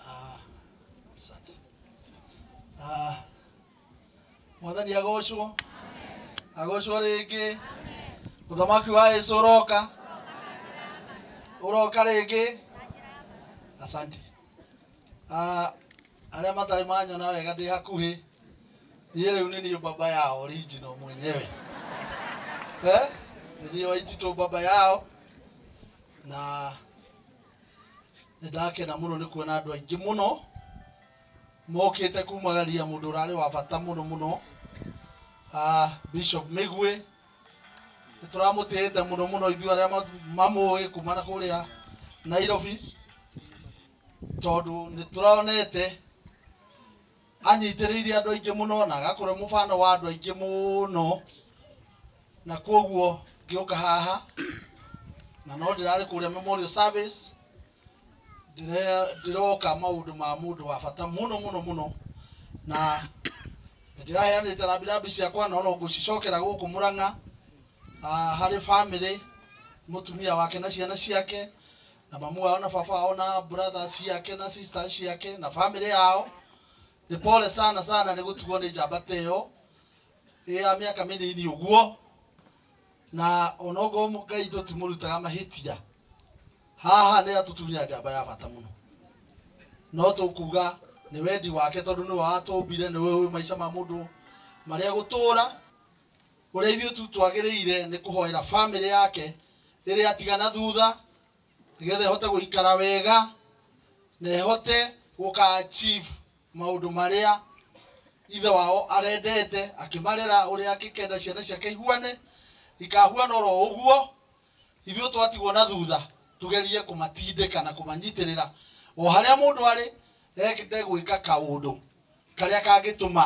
Ah, asante. Ah, mwathani agocwo agocwo rĩngĩ ũthamaki wa yesu ũroka ũroka rĩngĩ asante Ah, arĩa matarĩ manyona wega ndĩ hakuhĩ niĩ rĩu nĩ niĩ baba yao original mwenyewe eh? nĩ niĩ waititũ baba yao na nĩndakena mũno nĩ kuona andũ aingĩ mũno mokĩte kumagaria mũndũ ũrarĩ wa bata mũno mũno uh, Bishop Migwe nĩtũramũtĩĩte mũno mũno ithuĩ arĩa ma- mamũĩ kuma na kũrĩa Nairobi tondũ nĩtũronete Anyitĩrĩire andũ aingĩ mũno na agakũra mũbano wa andũ aingĩ mũno, na kwoguo ngĩũka haha na no ndĩrarĩ kũrĩa Memorial Service ndĩre- ndĩroka maũndũ ma mũndũ wa bata mũno mũno mũno na ndĩraheanĩte rambirambi ciakwa no no ngũcicokera gũkũ Mũrang'a ah, harĩ bamĩrĩ, mũtumia wake na ciana ciake. na mamu wao na baba wao na brother ciake na sister ciake na family yao nĩ pole sana sana nĩ gũtuo nĩ njamba ta ĩyo ĩ ya mĩaka mĩnini ũguo na onogo ngai tũtimũrutaga mahĩtia haha nĩ atũtunya njamba ya bata mũno no tũkuga nĩ wendi wake tondũ nĩwe watũmbire nĩwe ũĩ maica ma mũndũ marĩa gũtũra Ũrĩa ithuĩ tu twagĩrĩire nĩ kũhoera bamĩrĩ yake ĩrĩa atiga na thutha nĩgetha ĩhote gũikara wega na ĩhote gũka achieve maũndũ marĩa ithe wao arendete akĩmarera ũrĩa angĩkenda ciana ciake ihuane ikahuana oro ũguo ithuĩ twatigwo na thutha tugerie kũmatindĩka na kũmanyitĩrĩra o harĩa mũndũ arĩ ende gwĩka kaũndũ karĩa kangĩtũma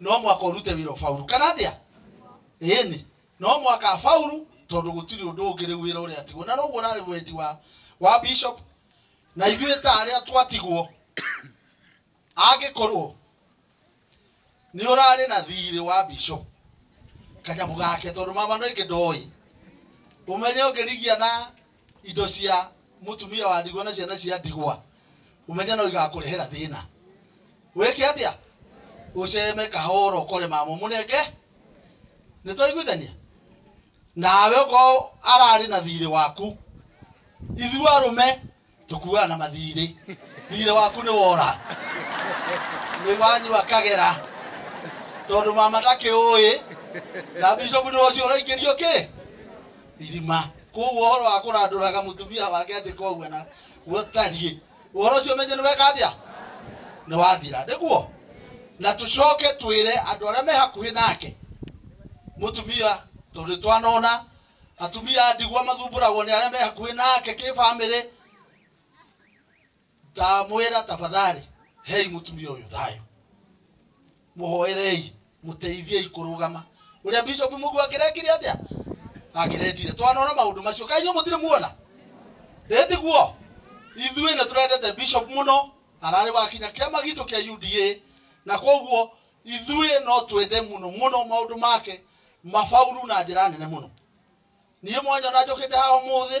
no mwaka urute wira faulu kana atia ini no mwaka faulu tondu gutiri undu ungi riu wira uria tigwo na noguo urari wendi wa wa bishop na ithuĩ ta arĩa twatigwo angĩkorwo nĩ ũrarĩ na thirĩ wa bishop kanyamũ gake tondũ mama no ingĩ ndoĩ ũmenye ũngĩrigia na indo cia mutumia wa ndigwa na ciana cia ndigwa umenye no igakũrehera thĩna wĩke atĩa ũceme kahora ũkore mama mũnenge nĩ twaiguithania nawe ũkorwo ararĩ na thirĩ waku ithuĩ arũme tũkuaga na mathirĩ thirĩ waku nĩ wora nĩ wanyua kagera tondũ mama ndakĩũĩ na bishop nĩ ũcio ũraingĩrio kĩ irima koguo horo wa kuranduraga mutumia wake ati koguo na gutariĩ uhoro ũcio menye nĩ weka atĩa nĩ wathira nĩguo na tucoke twĩre andũ arĩa me hakuhĩ nake mutumia tondũ twanona atumia a ndigwa mathumbũragwo nĩ arĩa me hakuhĩ nake kĩ bamĩrĩ ndamwĩra tafadhali hei mũtumia ũyũ thayũ mũhoerei mũteithiei kũrũgama ũrĩa bishop mũgu akĩrekire atĩa akĩrendire twanona maũndũ macio kainyo mũtirĩ muona ĩtiguo ithuĩ nĩ tũrendete bishop mũno ararĩ wakinya kĩama gitũ kĩa uda na koguo ithuĩ no twende mũno mũno maũndũ make mabauru na njĩra nene mũno niĩ mwanyona njũkĩte haha ũmũthĩ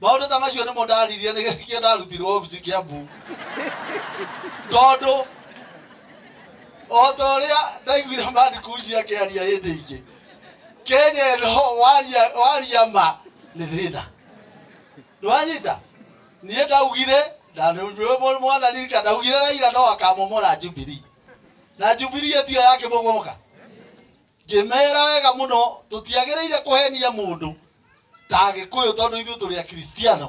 maũndũ ta macio nĩmo ndaririe nĩgĩkĩo ndarutirwo obici kĩambu tondũ o ta ũrĩa ndaiguire mandikuci akĩaria hĩndĩ ingĩ kenya ĩno waria- waria ma nĩ thĩna nĩwanyita niĩ ndaugire ndanĩwe mwana ririka ndaugire raira no akamomora jubilee na jubilee ĩtio yake mũmoka ngĩmera wega mũno tũtiagĩrĩire kũhenia mũndũ ta agĩkũyũ tondũ ithuĩ tũrĩ akristiano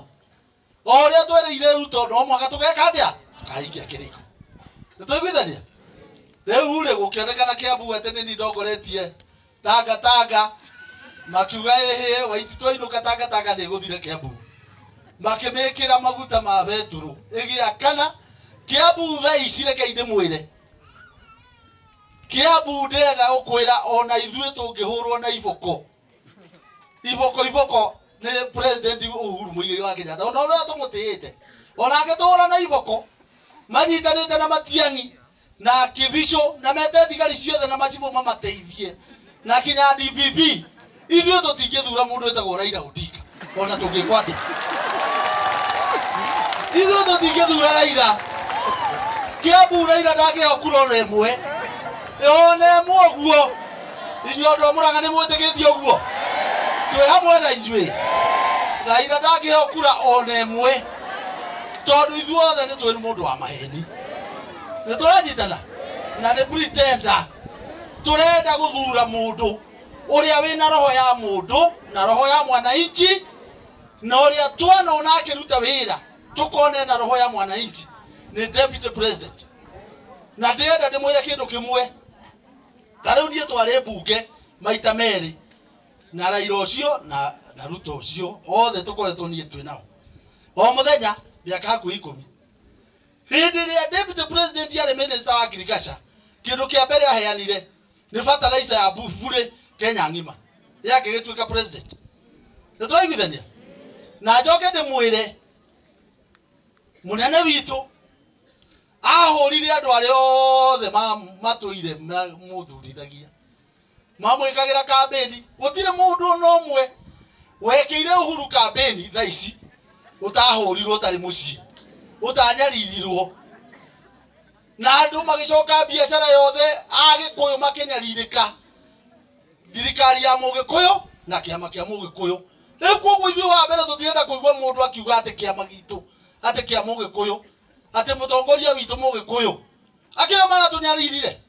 o ũrĩa twereire rĩu tondũ no mwaka tũgeka atĩa tũkahingia kĩrĩko nĩ tũiguithania rĩu rĩ gũkĩonekana kĩambu atĩ nĩ ni ndongoretie tanga tanga makiuga ĩhĩ waiti twainũka tanga tanga nĩ gũthire kĩambu makĩmĩkĩra maguta ma betũrũ ĩgĩakana kĩambu thaa ici reke indĩ mwĩre Kiambu ndĩrenda gũkwĩra ona ithuĩ tũngĩhũrwo na iboko iboko iboko nĩ president Uhuru Muigai wa Kenyatta ona ũrĩa tũmũtĩĩte ona angĩtũhũra na iboko manyitanĩte na Matiang'i na Kibisho na mete thigari ciothe na macibũ mamateithie na kinya DPP ithuĩ tũtingĩthura mũndũ wĩtagwo Raila Odinga ona tũngĩkwo atĩa ithuĩ tũtingĩthura Raila Kiambu Raila ndangĩheo kura ona ĩmwe ona ĩmwe ũguo inyuĩ andũ a Mũrang'a nĩ mwĩtĩkĩtie ũguo twĩ hamwe na inyuĩ Raila ndangĩheo kura ona ĩmwe tondũ ithuothe nĩ tũĩ nĩ mũndũ wa maheni nĩ tũranyitana na nĩ pretender turenda guthura mundu uria wina roho ya mundu na roho ya mwananchi na uria twana ona akiruta wira tukone na roho ya mwananchi ni deputy president na ndĩrenda ndĩmwĩre kĩndũ kĩmwe ta rĩu niĩ twarĩ mbunge maita merĩ na raira ũcio na na ruto ũcio othe tũkoretwo niĩ twĩ nao o mũthenya mĩaka hakuhĩ ikũmi Hĩndĩ ĩrĩa Deputy President yarĩ Minister wa Agriculture, kĩndũ kĩa mbere aheanire nĩ fertilizer ya bu- burĩ Kenya ng'ima. Yake gĩtuĩka President. Nĩ tũraiguithania? Na njoke ndĩmwĩre mũnene witũ ahũrire andũ arĩa othe ma- matũire ma- mũthurithagia mamwĩkagĩra kambĩni gũtirĩ mũndũ ona ũmwe wekĩire uhuru kambĩni tha ici ũtahũrirwo ũtarĩ mũciĩ ũtanyaririrwo na andũ magĩcoka biacara yothe agĩkũyũ makĩnyarirĩka thirikari ya mũgĩkũyũ na kĩama kĩa mũgĩkũyũ rĩu koguo ithuĩ wa mbere tũtirenda kũigua mũndũ akiuga atĩ kĩama gitũ atĩ kĩa mũgĩkũyũ atĩ mũtongoria witũ mũgĩkũyũ akĩrĩa maratũnyaririre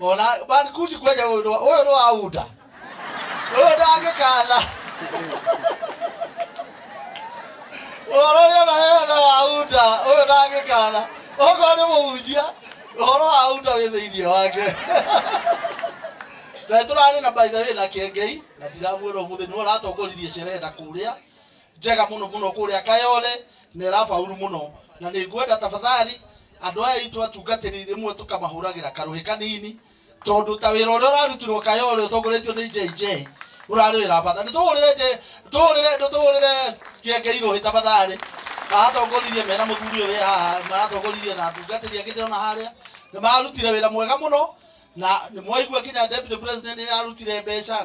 ona bankuti kweja uyu no uyu no auda uyu no angikana ũhoro ũrĩa ũraheana na wauda ũyũ ndangĩkana okorwo nĩ mũhunjia ũhoro wa uda wĩ thĩinĩ wake na tũrarĩ na by the way na kengei na ndiramuona ũmũthĩ nĩ ũratongoririe sherehe na kũrĩa njega mũno mũno kũrĩa kayole na ĩrabauru mũno na nĩ ngwenda tafadhali andå aya aitå atungatĩri rĩmwe tũkamahũragĩra karũhĩ kanini tondũ ta wĩra ũrĩa ũrarutirwo kaya ũrĩa ũtongoretio nĩ JJ ũrarĩ wĩra wa bata nĩ tũhũrĩre nje- tũhũrĩre nĩ tũhũrĩre kĩenge irũhĩ tafadhalĩ maratongoririe mena mũthuri ũyũ wĩ haha maratongoririe na atungatĩri angĩ ndĩrona harĩa nĩ mararutire wĩra mwega mũno na nĩ mwaigua kinya deputy president nĩ ararutire mbeca na